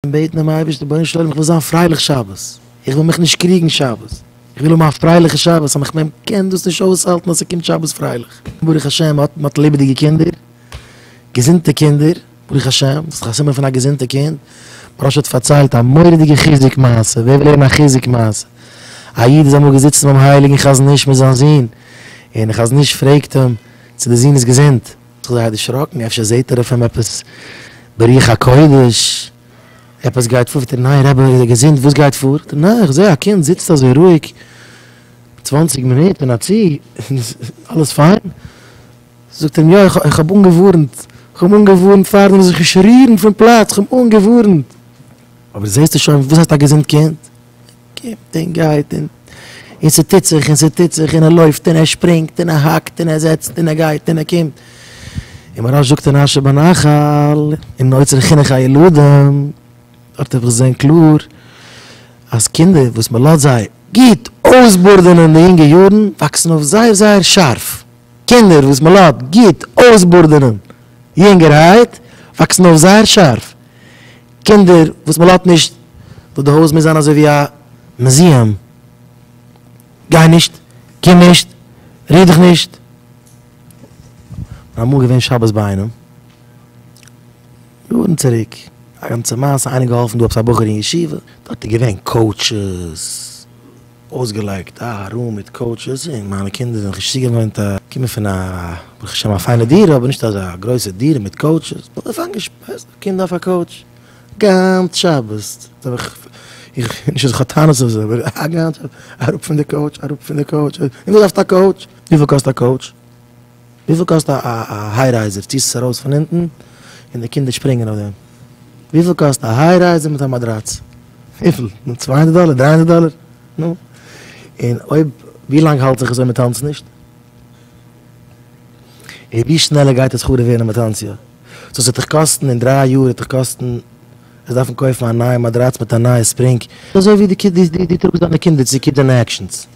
און בעטן דעם אייבערשטן, רבונו של עולם איך וויל זיין פרייליך שבת, איך וויל מיך נישט קריגן שבת, איך וויל האבן א פרייליכע שבת, אז איך מען קען דאס נישט אויסהאלטן אז ס'קומט שבת פרייליך, ברוך השם מען האט מען האט לעבעדיגע קינדער, געזונטע קינדער, ברוך השם, דאס איז דאך א סימן פון א געזונטע קינד, מוהרא ש האט פארציילט א מורא'דיגע חיזוק מעשה, ווער וויל הערן א חיזוק מעשה, א איד איז אמאל געזיצן ביים הייליגן חזון איש מיט זיין זון, און דער חזון איש פרעגט אים צו די זון איז געזונט. זיך זייער דערשראקן, אפשר זעהט ער אויף אים עפעס ברוח הקודש, עפעס גייט פאר, פרעגט ער, ניין רבי איז ער געזונט, וואס גייט פאר? זאגט ער, ניין איך זעה א קינד זיצט אזוי רואיג צוואנציג מינוט און א צו, אלעס פיין? זאגט ער אים, יא איך האב אנגעווארנט, איך האב אנגעווארנט פארדעם זאל זיך נישט רירן פון פלאץ, איך האב אנגעווארנט, אבער זעסטו שוין, וואס הייסט א געזונט קינד? קומט און גייט און און ס'טוט זיך און ס'טוט זיך און ער לויפט און ער שפרינגט און ער האקט און ער זעצט און ער גייט און ער קומט און מוהראש זאגט אין אשר בנחל אין אוצר חינוך הילדים דארט האב איך געזען קלאר אז קינדער וואס מ'לאזט זיי גוט אויסבארדענען אין די יונגע יארן וואקסן אויף זייער זייער שארף, קינדער וואס מ'לאט גוט אויסבארדענען יונגערהייט וואקסן אויף זייער שארף. קינדער וואס מען לאזט נישט, וואס די הויז מוז זיין אזוי ווי א מוזיאם, גיי נישט, קום נישט, ריר דיך נישט. כ'בין אמאל געווען שבת ביי איינעם, יארן צוריק, א גאנצע מעשה, איינער געהאלפן דא עפעס א בחור אין ישיבה, דארט איז געווען קאוטשעס, אויסגעלייגט א רום מיט קאוטשעס, און מיינע קינדער זענען זיך נישט צוגעוואוינט, קומען פון א ברוך השם א פיינע דירה, אבער נישט אזא גרויסע דירה מיט קאוטשעס, קינד אויף א קאוטש גאנץ שבת, איך נישט אז איך האב טענות אויף זיי, אבער א גאנץ שבת אראפ פון די קאוטש, אראפ פון די קאוטש, און דו דארפסט א קאוטש? וויפיל קאסט א קאוטש? וויפיל קאסט א היי-רייזער? ציסט עס ארויס פון אונטן און די קינדער שפרינגען אויף דעם? וויפיל קאסט א היי-רייזער מיט א מאדראץ? וויפיל? נו, צוויי הונדערט דאלער? דריי הונדערט דאלער? נו, און אויב, ווי לאנג האלט זיך עס אויב מען טאנצט נישט? און ווי שנעלער גייט עס חרוב ווערן אויב מען טאנצט יא? סאו ס'וועט דיך קאסטן אין דריי יאר וועט דיך קאסטן וועסט דארפן קויפן א נייע מאדראץ מיט א נייע ספרינג, אזוי ווי די טראגסט דיינע קינדער צו קידענעקשענס.